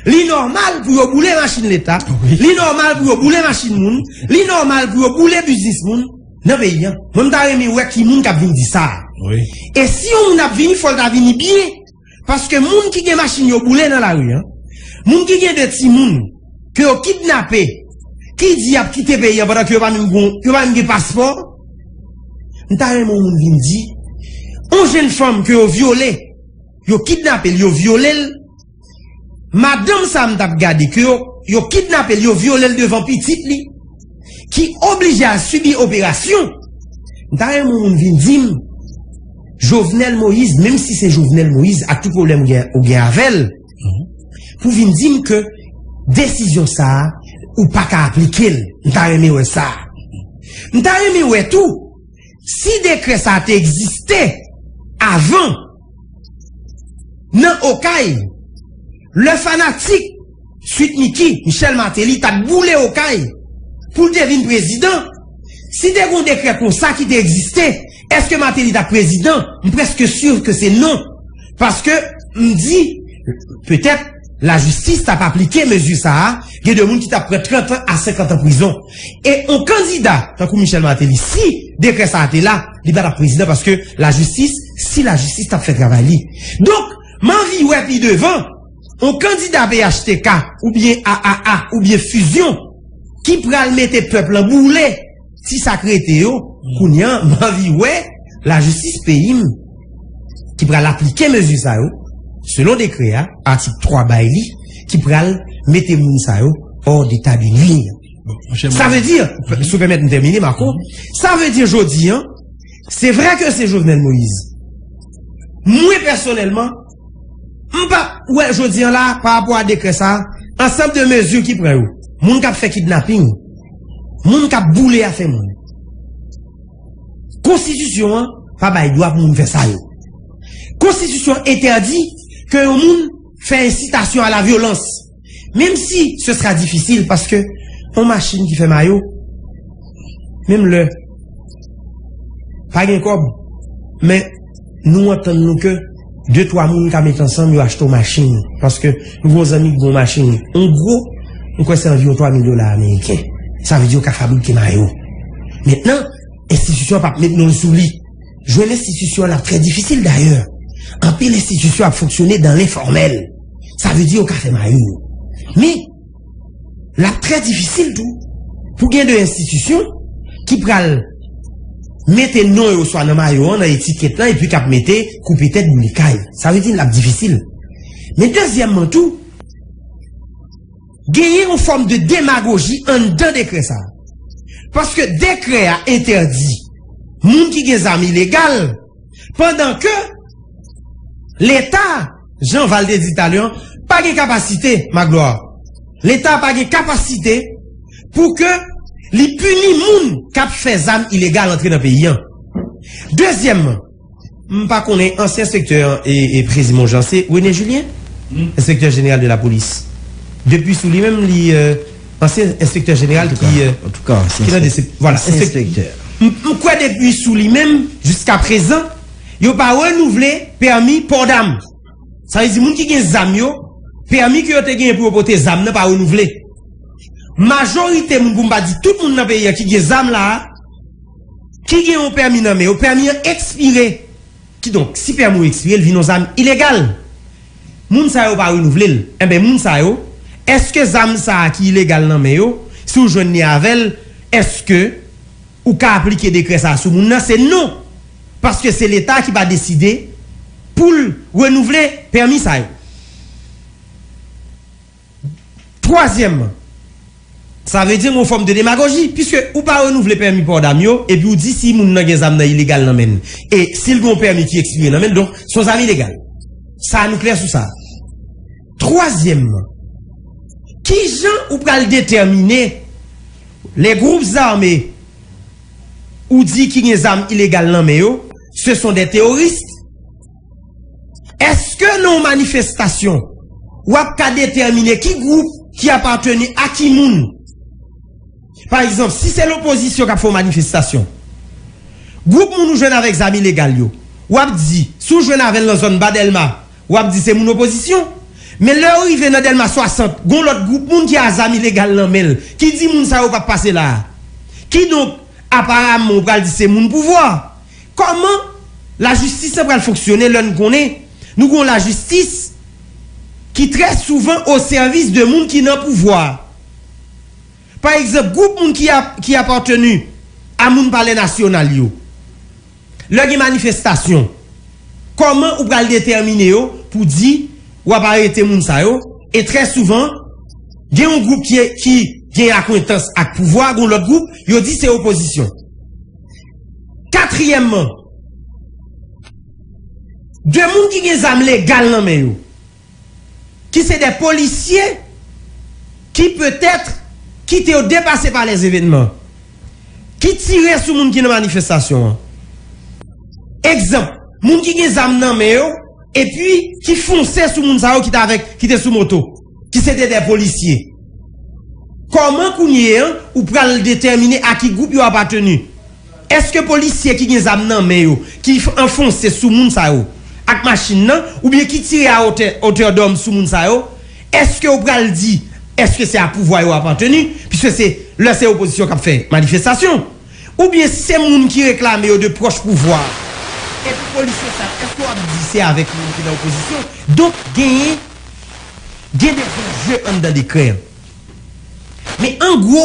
Li nòmal pou yo boule machin leta, li nòmal pou yo boule machin moun, li nòmal pou yo boule biznis moun nan peyi an. Mwen m ta renmen wè ki moun k ap vin di sa. E si yon moun ap vini, fò l ta vini byen. Paske moun ki gen machin yo boule nan lari an, moun ki gen 2 timoun ke yo kidnape, ki di y ap kite peyi an pandan ke yo pa menm gen, yo pa menm gen paspò. M ta renmen yon moun vin di, yon jenn fanm ke yo vyole, yo kidnape l, yo vyole l. Madanm sa m t ap gade ke yo kidnape l, yo vyole l devan pitit li ki oblije al sibi operasyon. M ta renmen yon moun vin di m Jovenel Moïse, menm si se Jovenel Moïse ak tout pwoblèm ou gen avè l, pou vin di m ke desizyon sa a ou pa ka aplike l. M ta renmen wè sa. M ta renmen wè tou. Si dekrè sa a te egziste avan nan Okay, lè fanatik Sweet Micky, Michel Martelly, t ap boule Okay pou l te vin prezidan, si te gen yon dekrè konsa ki te egziste, èske Martelly t ap prezidan? M prèske sur ke se non. Paske, m di, petèt, lajistis t ap aplike mezi sa a, gen de moun ki t ap pran 30 an a 50 an prizon. E on kandida tankou Michel Martelly, si dekrè sa a te la, li pa t ap prezidan paske lajistis, si lajistis t ap fè travay li. Donk, m anvi wè pi devan, on kandida phtk oubyen AAA oubyen Fusion ki pral mete pèp lan boule. Ti sak rete yo kounye an m anvi wè lajistis peyi m ki pral aplike mezi sa yo selon dekrè a atik 3 bay li ki pral mete moun sa yo hors d'etat de nuire. Sa vle di, si w pèmèt m tèmine Marco, sa vle di jodi an se vre ke se Jovenel Moïse mwen pèsonèlman M pa wè jodi an la pa rapò a dekrè sa, ansanm de mezi ki pran yo, moun k ap fè kidnaping, moun k ap boule afè moun. Konstitisyon an pa bay dwa pou moun fè sa yo. Konstitisyon entèdi ke yon moun fè ensitasyon a la vyolans. Menm si se sera difisil paske yon machin ki fè mayo menm lè pa gen kòb men nou antann nou ke 2-3 moun ka met ansanm yo achte yon machin paske nou gen yon zanmi ki gen yon machin an gwo mwen kwè se anviwon 3 mil dola ameriken sa vle di yo ka fabrike mayo mentnan enstitisyon an pa p met men l sou li jwenn enstitisyon an ap trè difisil dayè anpil enstitisyon ap fonksyone dan lenfòmèl. Sa vle di yo ka fè mayi yo. Men, l ap trè difisil tou pou gen de enstitisyon ki pral mete non yo swa nan mayo an, nan etiket lan, epi k ap mete koupe tèt, boule kay. Sa vle di l ap difisil. Men dezyèmman tou, genyen yon fòm de demagoji anndan dekrè sa a. Paske dekrè a entèdi moun ki gen zam ilegal. Pandan ke Leta, jan Val te di talè an, pa gen kapasite, Magloire, Leta pa gen kapasite pou ke li pini moun k ap fè zam ilegal antre nan peyi an. Dezyèmman, m pa konnen ansyen enspektè an e Prezi Monjan se René Julien? Enspektè jeneral de lapolis. Depi sou li menm li. Ansyen enspektè jeneral ki nan de sep. Voilà. Ansyen enspektè. M kwè depi sou li menm jiska prezan yo pa renouvle pèmi pò dam. Sa vle di moun ki gen zam yo, pèmi ke yo te genyen pou yo pote zam nan pa renouvle. Majorite moun pou m pa di tout moun nan peyi a ki gen zam la a, ki gen yon pèmi nan men yo, pèmi an ekspire. Kidonk, si pèmi w ekspire, l vin yon zam ilegal. Moun sa yo pa renouvle l. Enben, moun sa yo, èske zam sa a ki ilegal nan men yo, si w jwenn li avè l, èske ou ka aplike dekrè sa a sou moun nan? Se non! Paske se Leta ki pa deside pou l renouvle pèmi sa yo. Twazyèmman, sa vle di yon fòm de demagoji, piske ou pa renouvle pèmi pò dam yo, epi ou di si moun nan gen zam nan ilegal nan men l, e si l gen yon pèmi ki ekspire nan men l, donk se yon zam ilegal. Sa a nou klè sou sa a? Twazyèmman, ki jan ou pral detèmine lè gwoup zame ou di ki gen zam ilegal nan men yo, se son dè teworis? Eske nan yon manifestasyon, w ap ka detèmine ki gwoup ki apateni a ki moun? Pa egzanp, si se lopozisyon k ap fè yon manifestasyon, gwoup moun ou jwenn avèk zam ilegal yo, w ap di, si w jwenn avè l nan zòn Ba Dèlma, w ap di se moun opozisyon. Men lè yo rive nan Dèlma 60, gen yon lòt gwoup moun ki a zam ilegal nan men l, ki di moun sa yo pa p pase la a. Kidonk, aparaman, ou pral di se moun pouvwa. Kòman lajistis lan pral fonksyone lè n konnen nou gen yon lajistis ki trè souvan osèvis de moun ki nan pouvwa a? Pa egzanp, gwoup moun ki apateni a moun palè nasyonal yo, lè gen manifestasyon, kòman ou pral detèmine yo pou di w ap arete moun sa yo? E trè souvan, gen yon gwoup ki gen akwentans ak pouvwa, gen yon lòt gwoup, yo di se opozisyon. Katriyèmman, de moun ki gen zam legal nan men yo, ki se de polisye ki petèt kite yo depase pa lèzevènman, ki tire sou moun ki nan manifestasyon an. Egzanp, moun ki gen zam nan men yo epi ki fonse sou moun sa yo ki te avèk, ki te sou moto. ki se te de polisye. Kòman kounye an ou pral detèmine a ki gwoup yo apateni? Eske polisye ki gen zam nan men yo ki anfonse sou moun sa yo ak machin nan oubyen ki tire a wotè otèdòm sou moun sa yo, eske ou pral di eske se a pouvwa yo apateni piske se lè se opozisyon k ap fè manifestasyon oubyen si se moun ki reklame yo de pwòch pouvwa a? Epi polisye sa yo eske w ap di se avèk moun ki nan opozisyon? Donk genyen. Gen de zanje anndan dekrè an. Men an gwo,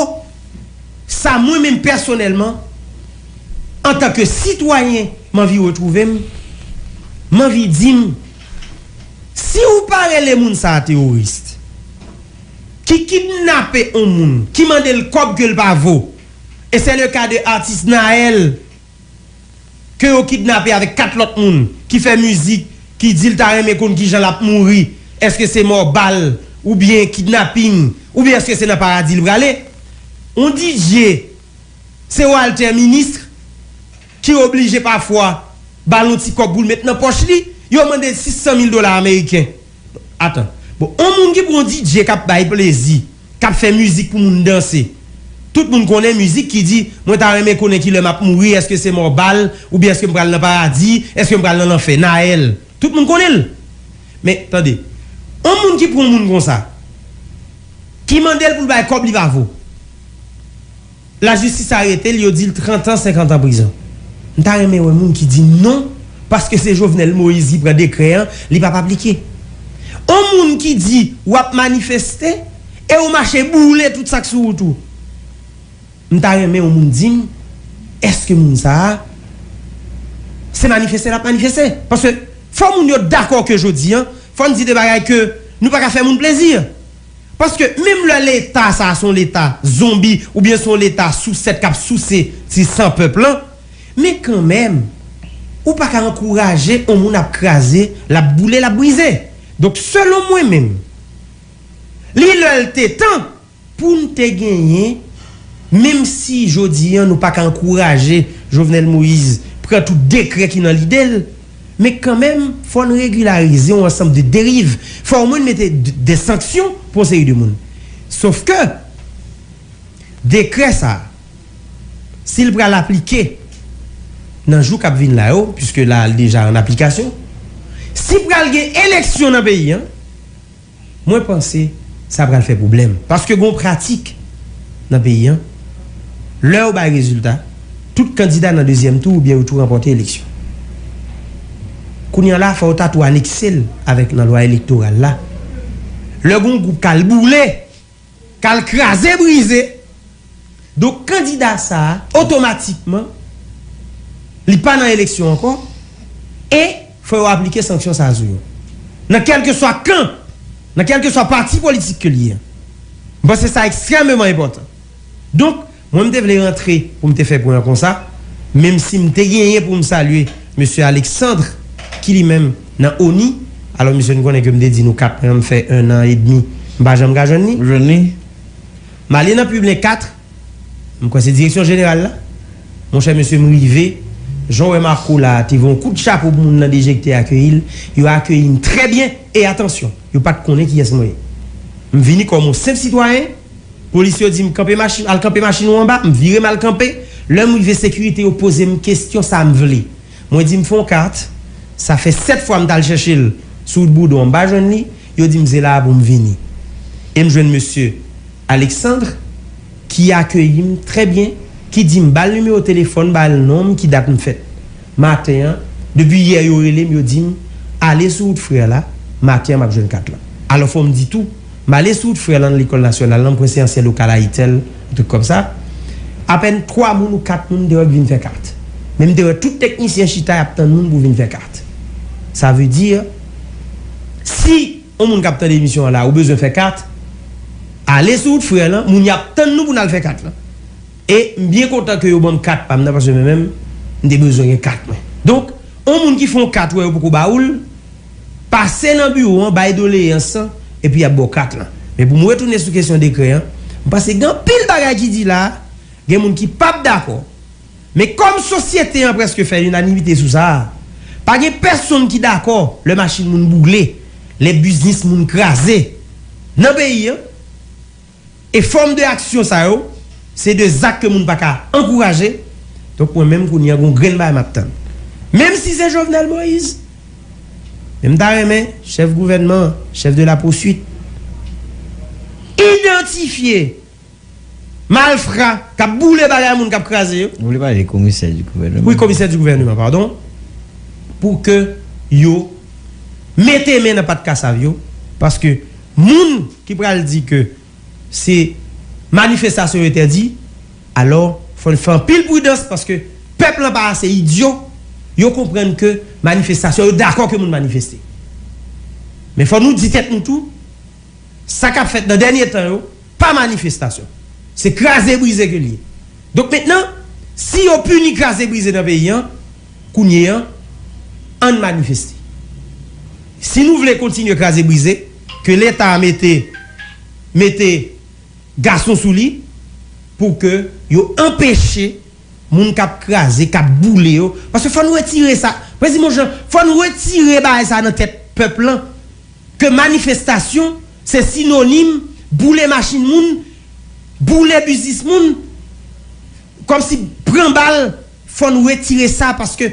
sa mwen menm pèsonèlman, antan ke sitwayen m anvi retwouve m, m anvi di m, si ou pa rele moun sa a teworis, ki kidnape on moun, ki mande l kòb ke l pa vo, e sè le ka de atis Naël. ke yo kidnape avèk 4 lòt moun ki fè mizik ki di l ta renmen konn kijan l ap mouri, èske se mò bal oubyen kidnaping oubyen èske se nan paradi l prale? On Didier se Walter ministre ki oblije pafwa ba l on ti kòb pou l met nan pòch li, yo mande l 600 mil dola ameriken. Atan, bon on moun ki pran on Didier k ap bay plezi. K ap fè mizik pou moun danse. Tout moun konnen mizik ki di, Mwen ta renmen konnen ki lè m ap mouri, èske se mò bal, oubyen èske m pral nan paradi, èske m pral nan lanfè. Naël. Tout moun konnen l. Men, tande, yon moun ki pran yon moun konsa, ki mande l pou l bay kòb li pa vo. La justice aretel yo dil 30 ans 50 ans prison mta renmen wè moun ki di non paske se jovenel moïse ki pran dekrè an li pap aplike on moun ki di wap manifeste e ou mache boule tout sak sou wout ou mta renmen on moun dim eske moun sa se manifeste lap manifeste paske fò moun yo dakò ke jodi an fòn di de bagay ke nou paka fè moun plezi. Paske menm lè leta sa son leta zonbi oubyen son leta sousèt kap souse ti san pèp lan men kanmèm ou paka ankouraje on moun ap kraze lap boule lap brize donk selon mwen menm li lè l te tan poun te genyen menm si jodi an nou paka ankouraje Jovenel Moïse pran tout dekrè ki nan lide l Men kanmenm, fò n regilarize yon ansanm de deriv. Fò omwen n mete dè sanksyon pou yon seri de moun. Sof ke, dekrè sa a, si l pral aplike nan jou k ap vin la yo, puiske la li deja an aplikasyon, si pral gen eleksyon nan peyi an, Mwen panse sa pral fè pwoblèm. Paske gon pratik nan peyi an, lè yo bay rezilta, tout kandida nan dezyèm tou oubyen yo tou ranpòte eleksyon. Kounye an la, fò yo ta tou anekse l avèk nan lwa elektoral la. Lè gon gwoup k al boule! Kal kraze brize. Donk kandida sa a otomatikman li pa nan eleksyon ankò e fò yo aplike sanksyon sa a sou yo. Nan kèlkeswa kan, nan kèlkeswa pati politik ke li ye. M panse sa ekstrèmeman enpòtan. Donk. Mwen m te vle rantre pou m te fè pwen an konsa, menm si m te genyen pou m salye Mesye Alexandre ki li menm nan ONI, alò mesye n konnen ke m te di nou 4 pwen an m fè 1 an e demi m pa janm ka jwenn li. M ale nan Publin 4, m kwè se direksyon jeneral la, monchè mesye m rive, jan w wè Marco la a te voye yon kout chapo pou moun nan DG ki te akeyi l, yo akeyi m trè byen e atansyon, yo pa t konnen kiyès mwen ye. M vini kòm yon senp sitwayen. Polis yo di m kanpe machin, al kanpe machin ou anba, m vire m al kanpe. Lè m rive sekirite yo poze m kesyon sa m vle. Mwen di m fon kat, sa fè 7 fwa m t al chèche l sou wout Boudon an m pa jwenn li, yo di m se la a pou m vini. E m jwenn mesye Alexandre ki akeyi m trè byen, ki di m ba l nimewo telefòn, ba l non m, ki dat m fèt. Maten an, depi yè yo rele m yo di m ale sou wout Frè la, maten an m ap jwenn kat lan. Alò fò m di tou, m ale sou wout Frè lan nan lekòl nasyonal lan, m kwense ansyen lokal Ayitel, yon trik kòm sa. Apèn 3 moun ou 4 moun m te wè ki vin fè kat. Men m te wè tout teknisyen chita y ap tann moun pou vin fè kat. Sa vle di, si yon moun k ap tande emisyon an la ou bezwen fè kat, ale sou wout Frè lan, moun y ap tann nou pou n al fè kat lan. E m byen kontan ke yo banm kat pam nan paske mwen menm m te bezwen gen kat mwen. Donk, on moun ki fè on kat ou wè yo poko ba ou l, pase nan biwo an bay doleyans lan epi y ap ba w kat lan. Men pou m retounen sou kesyon dekrè an, m panse gen anpil bagay ki di la a, gen moun ki p ap dakò, men kòm sosyete an prèske fè linanimite sou sa a, pa gen pèsonn ki dakò lè machin moun bougle, lè biznis moun kraze nan peyi an. E fòm de aksyon sa yo, se de zak ke moun pa ka ankouraje, donk mwen menm kounye a gon grenn bagay map tann. Menm si se Jovenel Moïse, men m ta renmen chèf gouvènman an, chèf de la poursuit, idantifye malfra kap boule bagay moun, kap kraze yo. Ou vle pale de komisè di gouvèneman? Wi, komisè di gouvèneman, padon, pou ke yo mete men nan pat kasav yo, paske. Moun ki pral di ke se manifestasyon yo entèdi, alò fò n fè anpil pridans paske pèp lan pa ase idyo, yo konprann ke manifestasyon yo dakò ke moun manifeste. Men fò nou di tèt nou tou, sa k ap fèt nan dènye tan yo pa manifestasyon, se kraze brize ke l ye. Donk mentnan, si yo pini kraze brize nan peyi an, Kounye an, ann manifeste. Si nou vle kontinye kraze brize, ke leta a mete mete gason sou li pou ke yo anpeche moun k ap kraze, k ap boule yo, paske fò n retire sa, Prezi Monjean, fò n retire bagay sa a nan tèt pèp lan, ke manifestasyon se sinonim boule machin moun, boule biznis moun. Komsi pran bal fò nou retire sa paske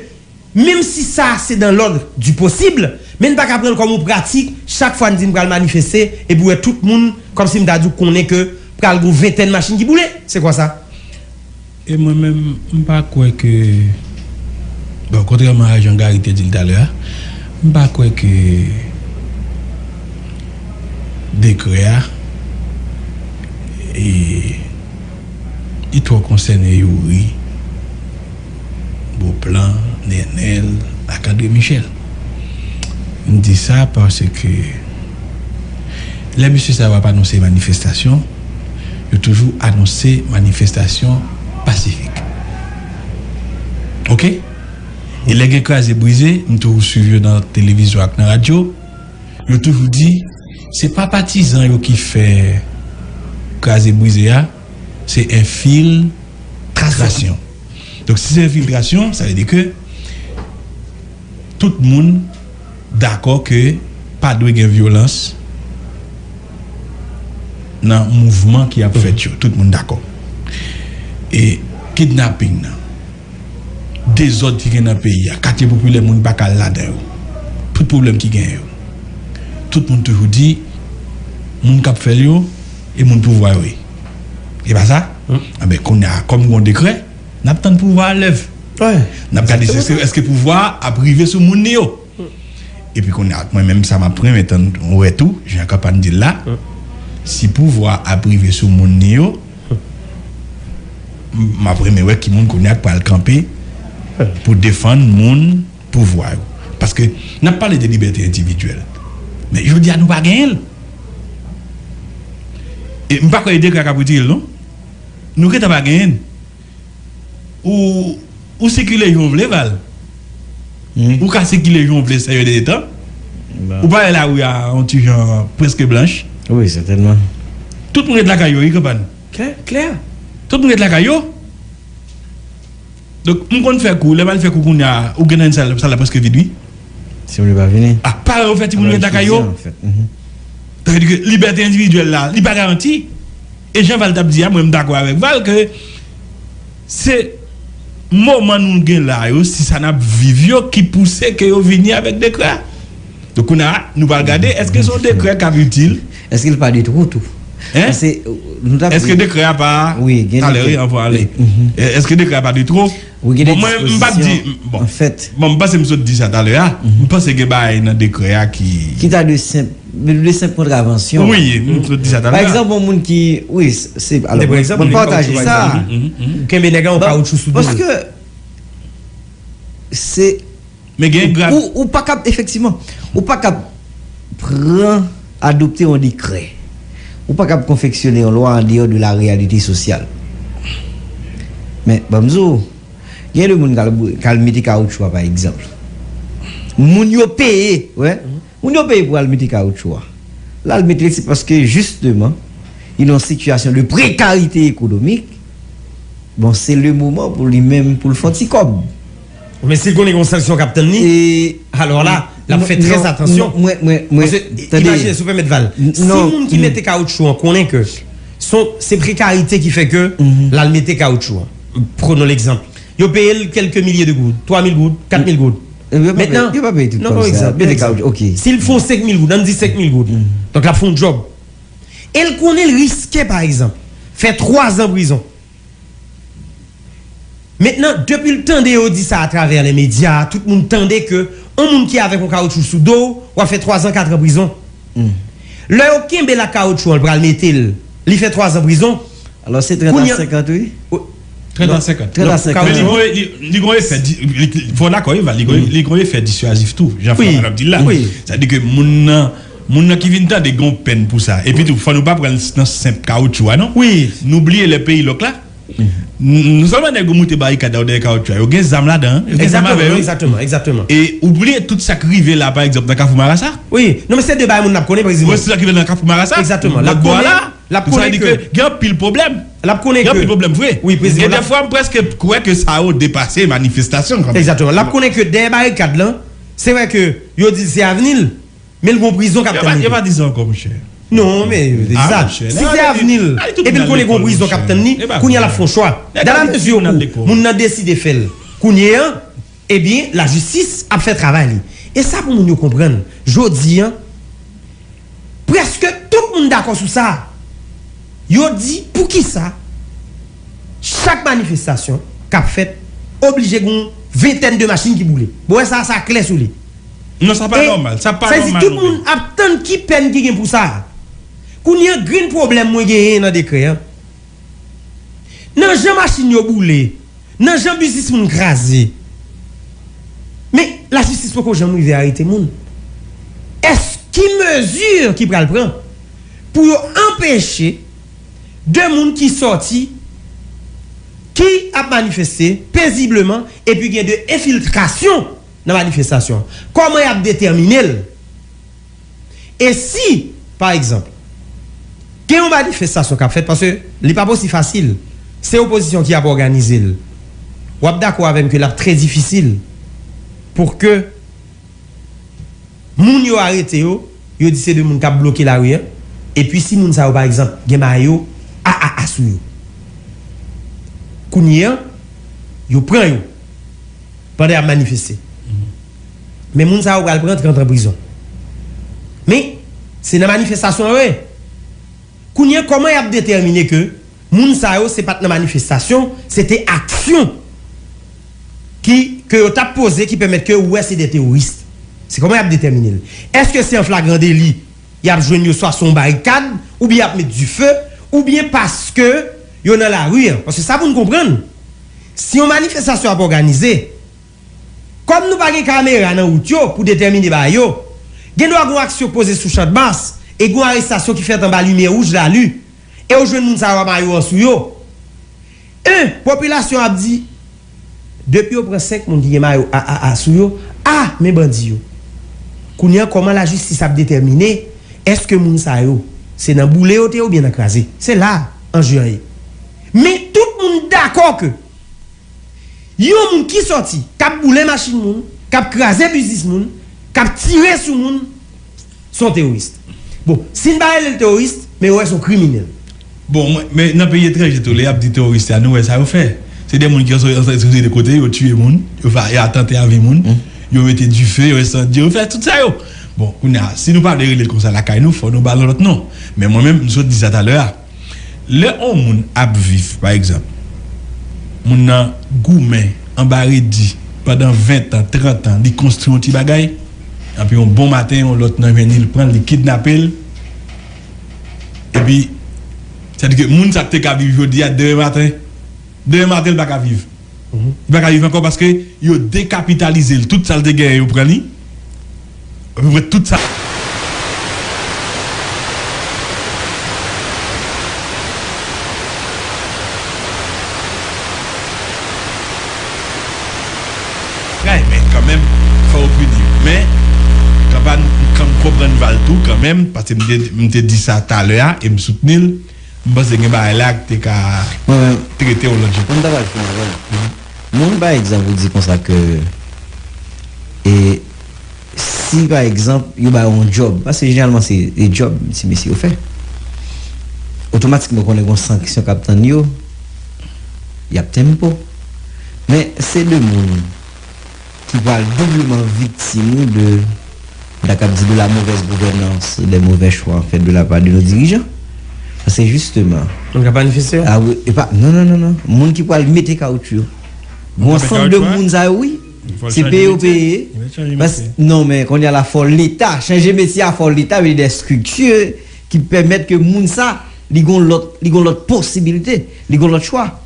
menm si sa se dans l'ordre du possible men n pa ka pran l kòm yon pratik chak fwa n di n pral manifeste epi w wè tout moun komsi m ta di w konnen ke pral gen yon ventèn machin ki boule se kwa sa? E mwen menm m pa kwè ke bon kontrèman a jan Gary te di l talè a m pa kwè ke dekrè a e. Li twò konsène youri, boplan, nenel ak andre michel. M di sa paske lè mesye sa yo ap anonse manifestasyon yo toujou anonse manifestasyon pasifik ok e lè gen kraze brize m toujou swiv yo nan televizyon ak nan radyo. Yo toujou di se pa patizan yo ki fè kraze brize a, se enfil trasyon. Donk si se enfiltrasyon sa vle di ke tout moun dakò ke pa dwe gen vyolans nan mouvman ki ap fèt yo. Tout moun dakò. E kidnaping nan. dezòd ki gen nan peyi a, katye popilè moun pa ka al ladan yo, tout pwoblèm ki genyen yo, tout moun toujou di moun k ap fè l yo e moun pouvwa yo ye. E pa sa? Anben, kounye a, kòm gen yon dekrè, n ap tann pouvwa a lève. N ap gade si èske pouvwa a ap rive sou moun li yo. Epi kounye a mwen menm sa map renmen tann wè tou jan kanpan dil la si pouvwa ap rive sou moun ni yo map renmen wè ki moun kounye a k pral kanpe pou defann moun pouvwa yo paske nap pale de libète endividyèl men jodi a nou pa genyen l e mpa kwè e degrè a kap retire l non nou gentan pa genyen l. Ou sikile jan w vle Val Ou ka sikile jan w vle sè yon de tan Ou pa wè lari a yon ti jan prèske blanch Wi sètènman Tout moun ret lakay yo wi Kanpàn Klè Tout moun ret lakay yo Donk m konn fè kou lè m al fè kou kounya ou gen nan sal la prèske vid wi Timoun yo pa vini A pa yo fè timoun yo ret lakay yo Sa vle di ke libète endividyèl la, li pa garanti. E jan Val t ap di a, mwen m dakò avèk Val ke se moman nou gen la yo, si sa n ap viv yo ki pouse ke yo vini avèk dekrè a. Donk kounye a, nou pral gade èske se yon dekrè k ap itil. Èske l pa de twou tou? Èske dekrè a pa talè wi anvan ale. Èske dekrè a pa de twou? Ou gen de dispozisyon an fèt. Bon, m panse m sot di sa talè a. M panse gen bagay nan dekrè a ki. Ki ta dwe senp, li dwe senp kontravansyon. Wi, m sot di sa talè a. Pa egzanp, yon moun ki, wi, se, alò, m pataje sa. Ou kenbe nèg la, ou kawoutchou sou do l. Paske, se. Men gen gra. Ou pa kab, efektivman, ou pa kab pran, adopte yon dekrè, ou pa kab konfeksyone yon lwa andeyò de la reyalite sosyal. Men, ban m di w, gen de moun k al, k al mete kawoutchou a, pa egzanp. Moun yo peye, wè, moun yo peye pou al mete kawoutchou a. L al mete l, se paske jisteman, li nan yon sitiyasyon de prekarite ekonomik, bon, se lemoman pou li menm, pou l fè yon ti kòb. Men si l konnen gen yon sanksyon k ap tann li, alò la, l ap fè trè atansyon. Paske, imajine, si w pèmèt Val, si moun ki mete kawoutchou an konnen ke se prekarite ki fè ke l al mete kawoutchou an, prenons l'exemple, yo peye l kèlke milye de goud, 3 mil goud, 4 mil goud. Mentnan, yo pa peye tout kòb sa. Yo peye kòb, ok. Si l fon 5 mil goud, an n di 5 mil goud, donk l ap fè yon djòb, e l konnen l riske, pa egzanp, fè 3 zan prizon. Mentnan, depi l tande yo di sa atravè lè medya, tout moun tande ke on moun ki avèk on kawoutchou sou do w, w ap fè twazan, katran prizon. Lè yo kenbe l ak kawotchou an, l pral mete l, li fè twazan prizon. Alò se trent a senkant wi. Trent a senkant. Trent a senkant. Men li gon e, li gon efè, fò w dakò Eva, li gon efè dissuasif tou, jan Frappa t ap di l la. Sa vle di ke moun nan. Moun nan ki vin tande gen yon pèn pou sa. Epi tou, fò nou pa pran l nan senp kawoutchou a non. Nou bliye lè peyi lòk la, non sèlman nèg yo moute barikad la yo dèyè kawoutchou a, yo gen zam ladan an, yo gen zam avè yo. E ou bliye tout sa k rive la pa egzanp nan kafou marasa. Non men se de bagay moun ap konnen preziman. Sa k rive nan kafou marasa, lòt bò a la, donk sa vle di ke gen anpil pwoblèm. Gen anpil pwoblèm vre. E dèfwa m prèske kwè ke sa yo depase manifestasyon kanmenm. Egzatteman. L ap konnen ke dèyè barikad lan, se vre ke yo di l se avni l. Men l gon prizon kap tann li tou. Yo pa di sa ankò monchè. Non men yo te di sa. Si se avni l epi l konnen gon prizon kap tann li, kounye a l ap fè yon chwa. Dalamezi ou moun nan deside fè l kounye an, ebyen lajistis ap fè travay li. E sa pou moun yo konprann jodi an, prèske tout moun dakò sou sa. Yo di poukisa. Chak manifestasyon kap fèt oblije gon ventèn de machin ki boule. Bon wè sa sa klè sou li. Non sa pa nòmal, sa pa nòmal non men. Ap tann ki pèn ki gen pou sa. Kounye an grenn pwoblèm mwen genyen nan dekrè an. Nan jan machin yo boule, nan jan biznis moun kraze. Men lajistis poko janm rive arete moun. Èske ki mezi ki pral pran pou yo anpeche. 2 moun ki sòti ki ap manifeste pezibleman epi gen de enfiltrasyon nan manifestasyon an. Kòman y ap detèmine l? E si, pa egzanp, gen yon manifestasyon k ap fèt, paske li pap osi fasil, se opozisyon ki ap òganize l, w ap dakò avè m ke l ap trè difisil pou ke. Moun yo arete yo, yo di se 2 moun kap bloke lari an, epi si moun sa yo pa egzanp gen mayo AAA sou yo. Kounye an, yo pran yo pandan yap manifeste. Men moun sa yo pral pran 30 an prizon. Men, se nan manifestasyon yo ye. Kounye an, kòman yap detèmine ke. Moun sa yo se pat nan manifestasyon, se te aksyon ki ke yo tap poze ki pèmèt ke ou wè se 2 teworis. Se kòman yap detèmine l? Eske se an flagran deli yap jwenn yo swa se yon barikad oubyen yap met dife oubyen paske yo nan lari an? Paske sa pou n konprann si yon manifestasyon ap òganize kòm nou pa gen kamera nan wout yo pou detèmine bagay yo gendwa gon aksyon k poze sou chandmas e gon arestasyon ki fèt anba limyè wouj lali. E ou jwenn moun sa yo a mayo an sou yo. 1, Popilasyon an ap di, Depi yo pran 5 moun ki gen mayo AAA sou yo, a, men bandi yo. Kounye an kòman lajistis ap detèmine èske moun sa yo se nan boule yo te ye oubyen nan kraze? Se la a anje an ye. Men, tout moun dakò ke yon moun ki sòti, k ap boule machin moun, k ap kraze biznis moun, k ap tire sou moun, Se yon teworis. Bon, si n pa rele l teworis, men yo wè se yon kriminèl. Bon, men nan peyi etranje tou, lè y ap di teworis sa, nou wè sa yo fè. Se de moun ki soti nan yon seri de kote, yo tiye moun, yo fè atante a vi moun, yo mete dife, yo ensandye, yo fè tout sa yo. Bon, kounye a, si nou pa vle rele l konsa lakay nou, fò nou ba l yon lòt non. Men mwen menm, m sot di sa talè a. Lè on moun ap viv, pa egzanp, moun nan goumen anba redi pandan ventan, trantan, li konstri yon ti bagay, anpi yon bon maten yon lòt nan jwenn li, li pran l, li kidnape l, epi, sa di ke moun sa te ka viv jodi a, demen maten, demen maten li pa ka viv. li pa ka viv ankò paske yo dekapitalize l tout sa l te genyen yo pran li apeprè tout sa. Tray men kanmenm fò yo pini yo men kanpa m konprann Val tou kanmenm paske m te di sa talè a e m soutni l. M panse gen bagay la k te ka trete yon lòt jan. Mwen ta pral fini avè l. Moun pa egzanp ou di konsa ke e si pa egzanp yo ba yo yon djòb, paske jeneralman se e djòb ti mesye yo fè, otomatikman ou konnen gon sanksyon k ap tann yo, y ap tempo. Men se de moun. ki pral doubleman viktim de sa k ap di de la mauvaise gouvernance, des mauvais choix en fait de la part de nos dirigeants. Paske jisteman. Moun k ap manifeste yo? A wi. E pa, non, non, non, non. Moun ki pral mete kawoutchou yo. Gon ansanm de moun sa yo wi. Se peye yo peye. Bas, non men kounye a la fò Leta chanje metye a, fò Leta mete des structures ki pèmèt ke moun sa li gon lòt, li gon lòt posibilite, li gon lòt chwa.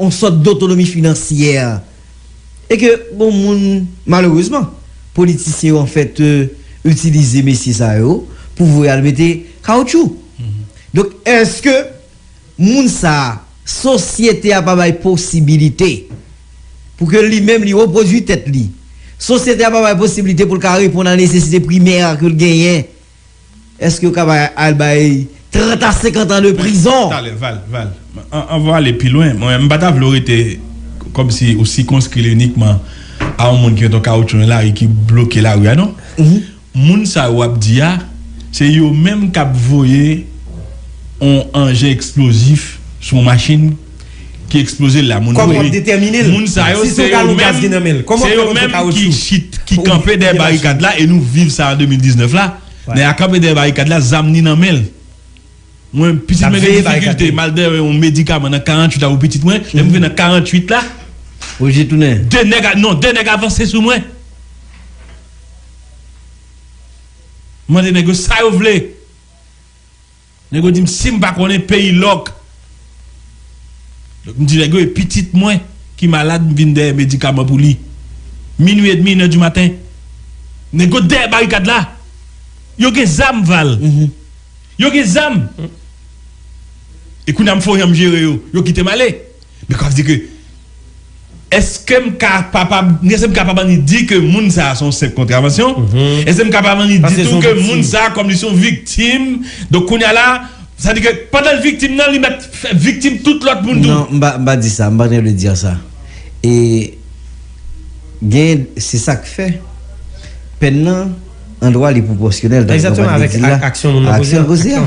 yon sòt dotonomi finansyè e ke gon moun malerezman politisyen yo anfèt itilize mesye sa yo pou voye al mete kawoutchou donk èske moun sa sosyete a pa bay posibilite pou ke li menm li repwodui tèt li sosyete a pa bay posibilite pou l ka reponn a nesesite primè ke l genyen Eske yo ka bay al bay 30 a 50 ans de prison. Talè val val anvan w ale pi lwen mwen m pa ta vle w rete kòmsi ou sikonskri l inikman a yon moun ki met yon kawoutchou nan lari ki bloke lari a non moun sa yo w ap di a se yo menm k ap voye yon anjen eksplozif sou yon machin ki eksploze l la moun mouri. Moun sa yo se yo menm se yo menm ki chit ki kanpe dèyè barikad la e nou viv sa an 2019 la nèg la kanpe dèyè barikad la zam ni nan men l mwen pitit mwen gen difikilte m al bèwen yon medikaman nan 48 a pou pitit mwen lè m rive nan 48 la 2 nèg a non 2 nèg avanse sou mwen m mande nèg yo sa yo vle. Nèg yo dim sim pa konnen peyi lòk lòk mdi nèg yo e pitit mwen ki malad mvin dèyè medikaman pou li minwi edmi inè di maten nèg yo dèyè barikad la yo gen zam val yo gen zam e kounya mfonyanm jere yo yo kitem ale. Men kap di ke, Eske m ka papab, eske m kapab annik di ke moun sa a se yon senp kontravansyon? Eske m kapab annik di tou ke moun sa a kòm li se yon viktim, donk kounye a la, sa di ke pandan l viktim nan, li mèt fè viktim tout lòt moun tou? Non, m pa, m pa di sa, m pa gen vle dire sa. E gen, se sa k fè, pèn nan, andwa li pwopòsyonèl, tankou nou pral di la, a aksyon l poze a.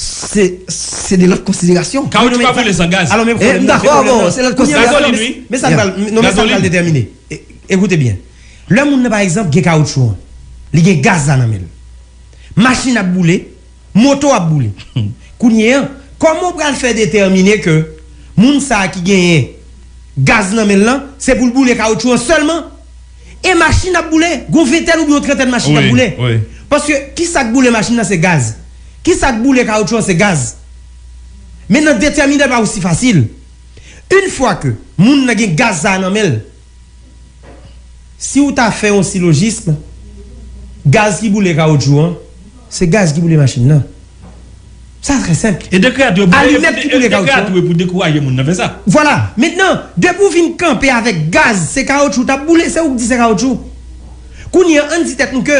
Se de lòt konsiderasyon. Kawotchou pa boule san gaz. M dakò avè w, se lòt konsiderasyon. Men sa k pral detèmine. Ekoute byen. Lè moun nan pa egzanp gen kawotchou an, li gen gaz la nan men l. Machin ap boule, moto ap boule. Kounye an, kòman w pral fè detèmine ke moun sa ki genyen gaz nan men l lan, se pou l boule kawotchou an sèlman? E machin ap boule, gon ventèn oubyen yon trantèn machin kap boule. Paske kisak boule machin nan se gaz. Kisak boule kawoutchou an se gaz. Men nan detèmine pa osi fasil. Yn fwa ke moun nan gen gaz sa a nan menl, si ou ta fè yon silojism, gaz ki boule kawoutchou an, Se gaz ki boule machin nan. Sa trè senp. E dekrè a tou e pou Alimèt ki boule kawotchou an. Dekrè a tou e pou dekouraje moun nan fè sa. Vwala. Mentnan, depi ou fin kanpe avèk gaz se kawotchou t ap boule, se ou k di se kawotchou. Kounye an, ann di tèt nou ke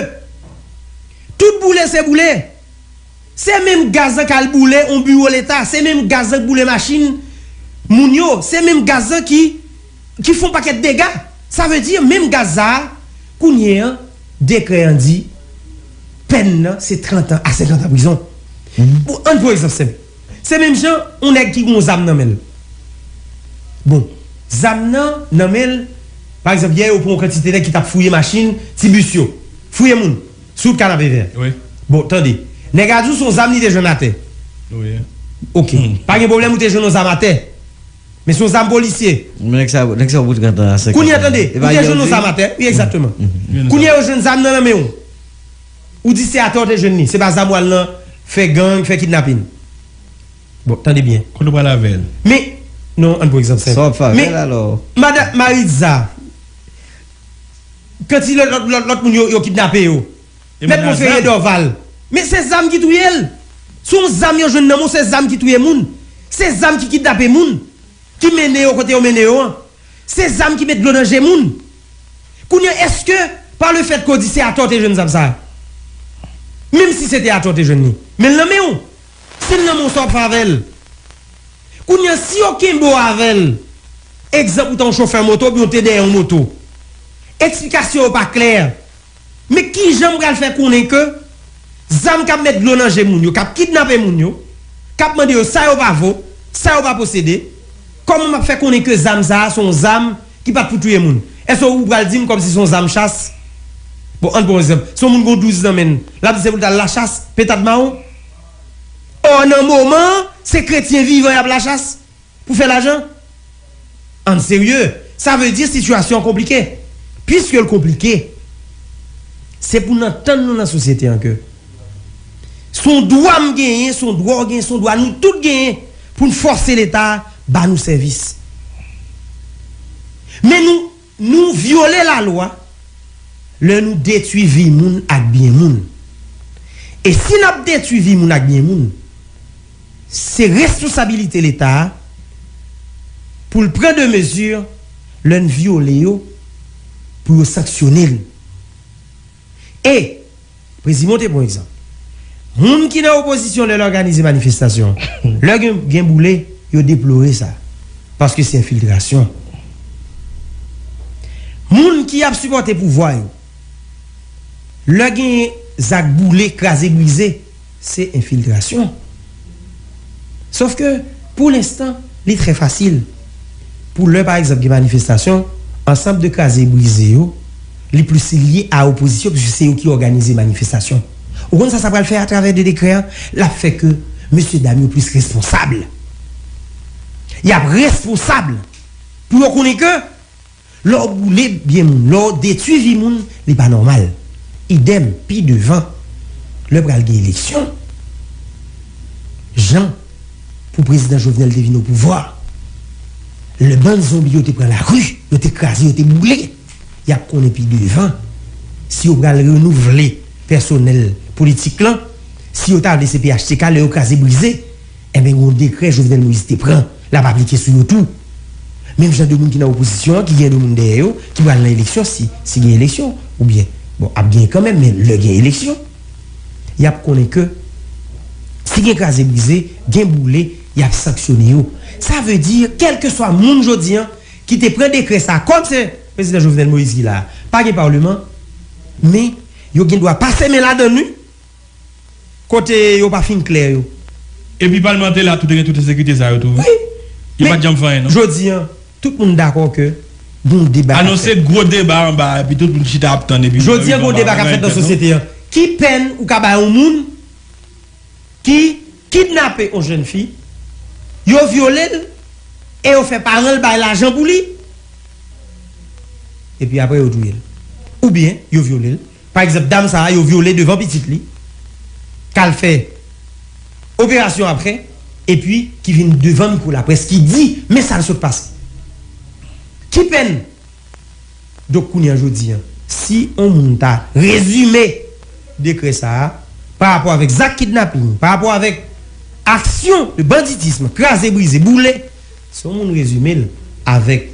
tout boule se boule. Se menm gaz lan k al boule yon biwo leta, se menm gaz lan k boule machin moun yo, se menm gaz lan ki. ki fon pakèt dega sa vle di menm Gaza kounye an dekrè an di pèn nan se 30 an a 50 an prizon bon ann pran egzanp senp se menm jan yon nèg ki gen yon zam nan menl bon zam nan nan menl pa egzanp yè yo pran yon kantite nèg ki tap fouye machin ti bis yo fouye moun sou wout kanapevè bon tande nèg la di w son zam li te jwenn atè ok pa gen pwoblèm ou te jwenn yon zam atè. Men son zam polisye. Nèg sa nèg sa bout gentan a 50 Kounye an tande, ou te jwenn yon zam atè, wi egzakteman. Kounye yo jwenn zam nan nan men ou. Ou di se atè ou te jwenn li, se pa zam ou al nan fè gang, fè kidnapin. Bon, tande byen. Kote ou pral avè l? Men, non, ann pran egzanp senp. Sa w ap fè avè l alò? Men, madan Maritza, kan ti lòt lòt moun yo kidnape yo? Mèt Monferrier Dorval, Men se zam ki touye l! Se yon zam yo jwenn nan men w, se zam ki touye moun, se zam ki kidnape moun, ki mennen yo kote yo mennen yo an, se zam ki met dlo nan je moun. Kounye an, èske pa le fèt ke w di se atò w te jwenn zam sa a, menm si se te atò w te jwenn li, men l nan men w, si l nan men w sa w ap fè avè l? Kounye an, si yo kenbe w avè l, egzanp ou ta yon chofè moto oubyen w te dèyè yon moto, eksplikasyon yo pa klè, Men kijan m pral fè konnen ke zam k ap met dlo nan je moun yo, k ap kidnape moun yo, k ap mande yo sa yo pa vo, sa yo pa posede, kòman m ap fè konnen ke zam sa a se yon zam ki pa t pou touye moun? Èske ou pral di m kòmsi se yon zam chas? Bon, ann pran yon egzanp, si yon moun gen yon 12 nan men l, l ap di se pou l ta al lachas, pentad mawon? Ò, nan moman an, se kretyen vivan y ap lachas. Pou fè lajan? Ann serye, sa vle di sitiyasyon an konplike. Piske l konplike, se pou n antann nou nan sosyete an ke s on dwa m genyen, s on dwa w genyen, s on dwa nou tout genyen pou n fòse Leta ba nou sèvis. Men nou Nou vyole lalwa lè nou detwi vi moun ak byen moun. E si n ap detwi vi moun ak byen moun, se responsabilite Leta a pou l pran de mezi lè n vyole yo pou yo sanksyone l. E, Prezimo te bon egzanp. Moun ki nan opozisyon lè l òganize manifestasyon, lè gen boule, yo deplore sa. Paske se enfiltrasyon. Moun ki ap sipòte pouvwa yo, lè gen zak boule, kraze brize. Se enfiltrasyon. Sof ke pou lenstan li trè fasil pou lè pa egzanp gen manifestasyon, ansanm de kraze e brize yo, li plis lye a opozisyon pwiske se yo ki òganize manifestasyon. Ou konn sa sa pral fè atravè de dekrè an? L ap fè ke mesye dam yo plis responsab. Y ap responsab pou yo konnen ke. Lè w boule byen moun, lè w detwi vi moun, li pa nòmal. Idèm, pi devan, lè pral gen eleksyon, jan pou Prezidan Jovenel te vin opouvwa a, lè bann zonbi yo te pran lari, yo te kraze, yo te boule, y ap konnen pi devan si yo pral renouvle pèsonèl politik lan, si yo ta vle se phtk lè yo kraze brize. Enben gen yon dekrè Jovenel Moïse te pran l ap aplike sou yo tou. Menm jan de moun ki nan opozisyon an ki gen de moun dèyè yo ki pral nan eleksyon si si gen eleksyon oubyen bon ap gen kanmenm men lè gen eleksyon y ap konnen ke si gen kraze brize gen boule y ap sanksyone yo. Sa vle di kèlkeswa moun jodi an ki te pran dekrè sa a kòm se Prezidan Jovenel Moïse ki la a pa gen Parlement men yo gen dwa pase men ladan l wi. Kote yo pa fin klè yo. Epi palmante la tou te gen tout ensekirite sa yo tou wi. Yo pat janm fè anyen non. Jodi an tout moun dakò ke gon deba kap fèt. Anonse gwo deba anba a epi tout moun chita ap tann epi. Jodi an gon deba kap fèt nan sosyete an. Ki pèn ou ka bay yon moun ki kidnape yon jèn fi, yo vyole l e yo fè paran l bay lajan pou li epi aprè yo touye l? Oubyen yo vyole l. Pa egzanp dam sa yo vyole devan pitit li kal fè operasyon aprè epi ki vin devan mikwo laprès ki di men sal sot pase ki pèn donk kounye an jodi an si on moun ta rezime dekrè sa pa rapò avèk zak kidnaping pa rapò avèk aksyon de banditism kraze brize boule Si yon moun rezime l avèk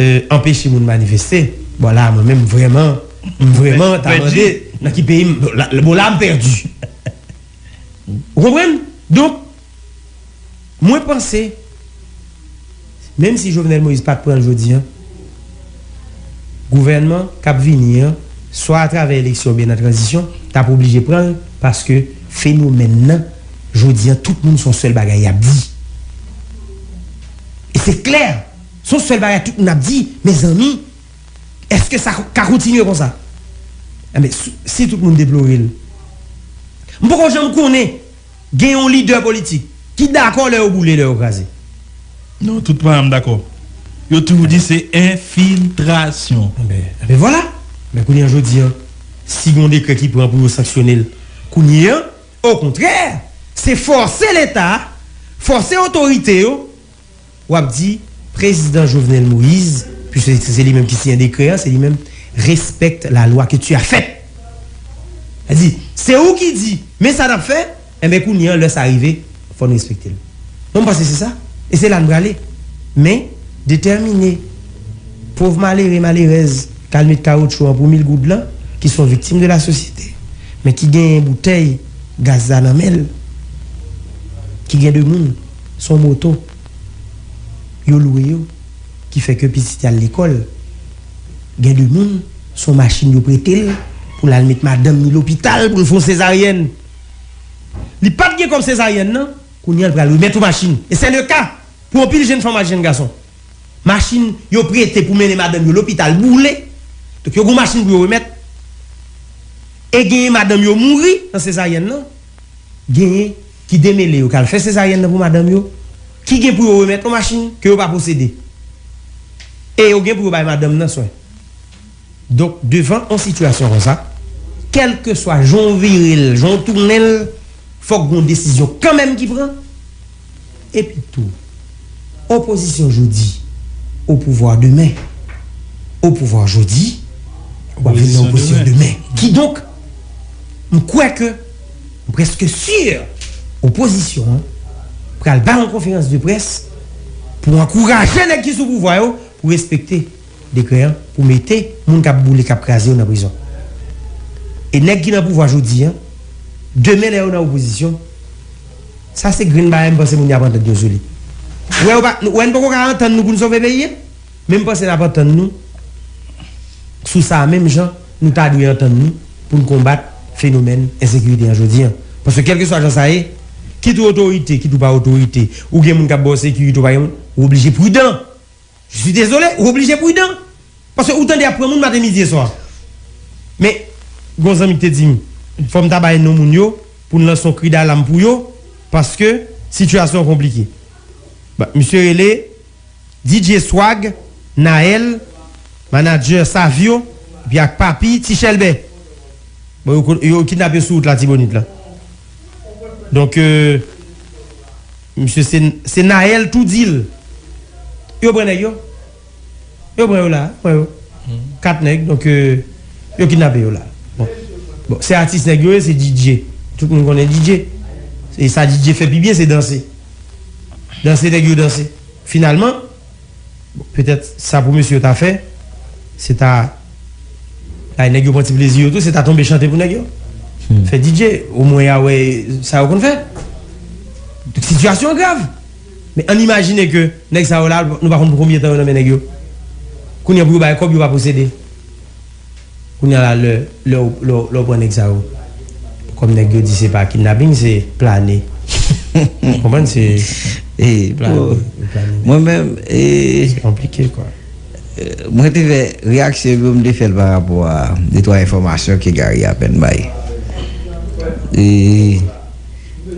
e anpeche moun manifeste, bon la a mwen menm m vrèman, m vrèman ta mande nan ki peyi m, bon la a m pèdi. Ou konprann? Donk, mwen panse, menm si Jovenel Moïse pa t pran l jodi an, Gouvènman k ap vini an, swa atravè eleksyon oubyen nan tranzisyon, t ap oblije pran l paske fenomèn nan jodi an tout moun son sèl bagay y ap di. E se klè, son sèl bagay tout moun ap di, mezanmi, èske sa ka kontinye konsa? Enben, si tout moun deplore l, m poko janm konnen! Gen yon lidè politik ki dakò lè yo boule, lè yo kraze? Non, tout paran m dakò. Yo toujou di se enfiltrasyon. Enben vwala! Men kounye an jodi an, si gen yon dekrè ki pran pou yo sanksyone l kounye an, okontrè, se fòse Leta, fòse otorite yo, Wap di prezidan jovenel moise puisque se li menm ki siyen dekrè an se li menm respecte la loi que tu as fait sa di se ou ki di men sa nap fè enben kounye an lè sa rive fò nou respekte l mwen m panse se sa e se la n prale men detèmine pov malere malerèz kal met kawotchou an pou mil goud lan ki son viktim de la sosyete men ki genyen boutèy gaz la nan men l ki gen de moun. Son moto yo lwe yo ki fè ke pitit y al lekòl. Gen de moun, son machin yo prete l pou l al met madanm ni lopital pou l fè yon sezaryèn. Li pa t gen kòb sezaryèn nan, kounye a l pral remèt ou machin. E sè le ka pou anpil jenn fanm ak jenn gason. Machin yo prete pou mennen madanm yo lopital boule. Donk yo gen yon machin pou yo remèt. E genyen madanm yo mouri nan sezaryèn nan. Genyen. ki demele yo k al fè sezaryèn nan pou madanm yo, ki gen pou yo remèt yon machin ke yo pa posede. E yo gen pou yo bay madanm nan swen. Donk, devan yon sitiyasyon konsa, kèlkeswa jan w vire l, jan w tounen l, fòk gen yon desizyon kanmenm ki pran. Epitou, opozisyon jodi, opouvwa demen. Opouvwa jodi, wap vin nan opozisyon demen. Kidonk, m kwè ke. M preske sur opozisyon an pral bay yon konferans de près pou ankouraje nèg ki sou pouvwa yo pou respekte dekrè an pou mete moun kap boule kap kraze yo nan prizon. E nèg ki nan pouvwa jodi an demen lè yo nan opozisyon sa se grenn bagay m panse moun yo ap antann yo sou li. Ou wè yo pa, ou wè n poko ka antann nou pou n sove peyi a? Men m panse n ap antann nou sou sa a menm jan nou ta dwe antann nou pou n konbat fenomèn ensekirite an jodi an. Paske kèlkeswa jan sa ye, kit ou otorite, kit ou pa otorite, ou gen moun k ap ba w sekirite, ou pa gen moun, ou oblije pridan. Je suis désolé, ou oblije pridan. Paske ou tande y ap pran moun maten, midi e swa. Men, gen yon zanmi ki te di m, fò m ta bay non moun yo pou n lanse yon kri dalam pou yo, paske sitiyasyon an konplike. Bon, misye rele. DJ Swag, Naël, Manager Savio, epi ak Papi, Ti Chèlbè. Bon yo ko yo kidnap yo sou wout Latibonit lan. Donk misye se se Naël tou di l yo pran nèg yo. Yo pran yo la, pran yo. 4 nèg donk yo kidnape yo la. Bon bon se atis nèg yo ye se DJ. Tout moun konnen DJ. E sa DJ fè pi byen se danse. Danse nèg yo danse. Finalman, petèt sa pou mesye yo ta fè, se ta bay nèg yo pran ti plezi yo tou, se ta tonbe chante pou nèg yo. Fè DJ, omwen y a wè sa yo konn fè. Donk sitiyasyon an grav. Men ann imajine ke nèg sa yo la, nou pa konn pou konbyen tan yo nan men nèg yo. Kounye a pou yo bay kòb yo pa posede. Kounya la lè lè ou lè ou pran nèg sa yo kòm nèg yo di se pa kidnapping se plane ou konprann se plane mwen menm se konplike kwa. Mwen te fè reyaksyon yo m te fèl pa rapò a de twa enfòmasyon ke Gary apèn bay e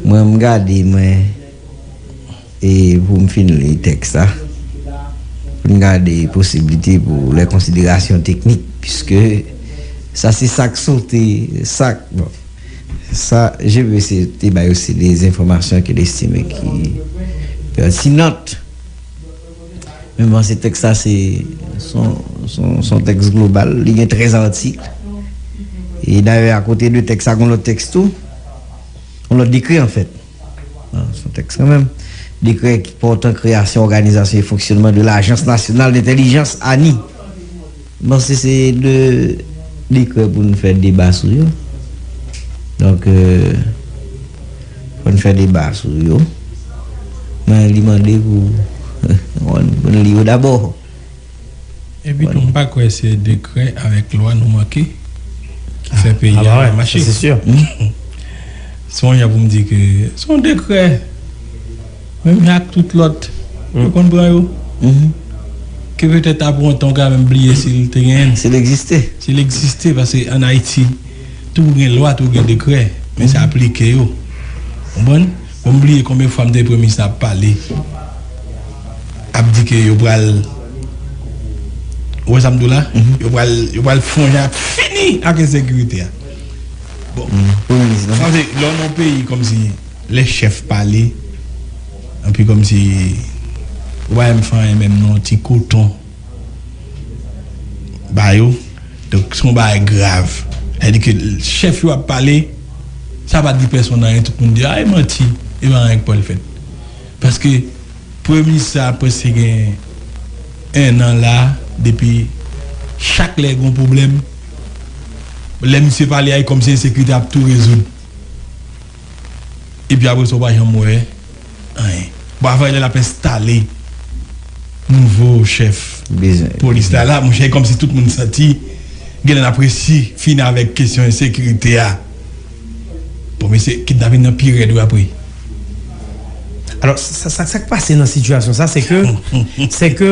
mwen m gade mwen. E pou m fin li tèks la, pou n gade posiblite pou lè konsiderasyon teknik, piske sa se sa k sote, sa k, bon, sa je ve se te bay yo se de enfòmasyon ke l estime ki pètinant. Men m panse tèks la se s on tèks global, li gen 13 atik. E dayè akote de tèks sa gen lòt tèks tou, gen lòt dekri anfèt. Son tèks kanmenm. Dekrè pòtan kreyasyon òganizasyon e fonksyònman de lajans nasyonal dentèlijans, ani. M panse se 2 dekrè pou n fè deba sou yo. Donk pou n fè deba sou yo. Men li mande pou pou n li yo dabò. Epito m pa kwè se dekrè avèk lwa nou manke ki fè peyi a pa mache. Se yon jan pou m di ke se yon dekrè menm jan ak tout lòt yo konn pran yo ke petèt apre yon tan ou ka menm bliye si l te genyen. Si l egziste. Si l egziste paske an Ayiti tou gen lwa tou gen dekrè men se aplike yo. Ou konprann? Bon m bliye konbyen fwa m tande premye minis la ap pale ap di ke yo pral ou wè sa m di w la yo pral yo pral fon jan ap fini ak ensekirite a bon premye minis lan paske lè w nan yon peyi kòmsi lè chèf pale anpi kòmsi ou pa janm fè anyen menm non ti koton. ba yo donk son bagay grav sa di ke chèf yo ap pale sa pa di pèson anyen tout moun di a e manti e pa anyen ki pwal fèt paske premye minis sa preske gen 1 an la depi chak lè gon pwoblèm lè misye pale a e kòmsi ensekirite ap tou rezoud. epi apre sa ou pa janm wè anyen bon avan lè lap enstale nouvo chèf polis la la monchè e kòmsi tout moun santi genlè nap resi fini avèk kesyon ensekirite a bon mesye kidnapin nan pi rèd wi apre. Alò sak pase nan sitiyasyon sa se ke se ke.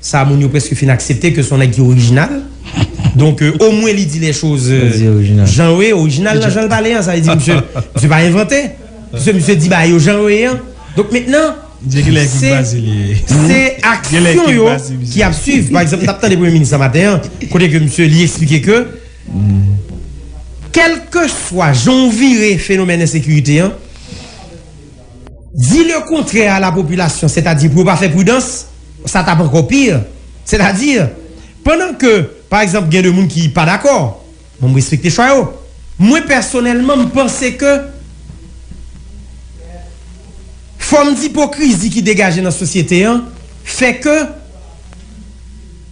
Sa moun yo preske fin aksepte ke son nèg ki orijinal. Donk o mwen li di les choses jan yo ye, orijinal nan janl pale an. Sa vle di misye, misye pa envante. Misye, misye di bagay yo jan yo ye an. Donk mentnan se, se aksyon yo ki ap swiv. Pa egzanp, mtap tande premye minis la maten an, kote ke misye li eksplike ke kelkeswa jan w vire fenomèn ensekirite an, Di le kontrè a la popilasyon, sètadi pou yo pa fè pridans, sa t ap ankò pi. Sètadi, pandan ke, pa egzanp, gen de moun ki pa dakò, bon m respekte chwa yo, mwen pèsonèlman m panse ke fòm dipokrizi ki degaje nan sosyete an fè ke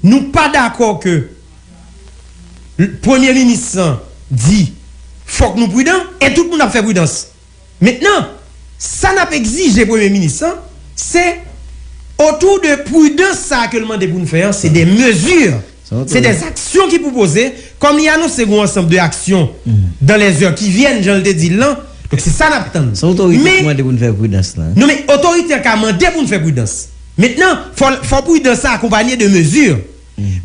nou pa dakò ke Premye Minis lan di fòk nou pridan e tout moun ap fè pridans. Mentnan, sa nap egzije premye minis lan, se otou de prudans sa ke l mande pou n fè an, se de mezi, se de aksyon ki pou poze, kòm li anonse gon ansanb de aksyon dan lè zè ki vyèn jan l te di l lan, donk se sa n ap tann. Non men otorite an ka mande pou n fè prudans. Mentnan, fò prudans sa akonpanye de mezi.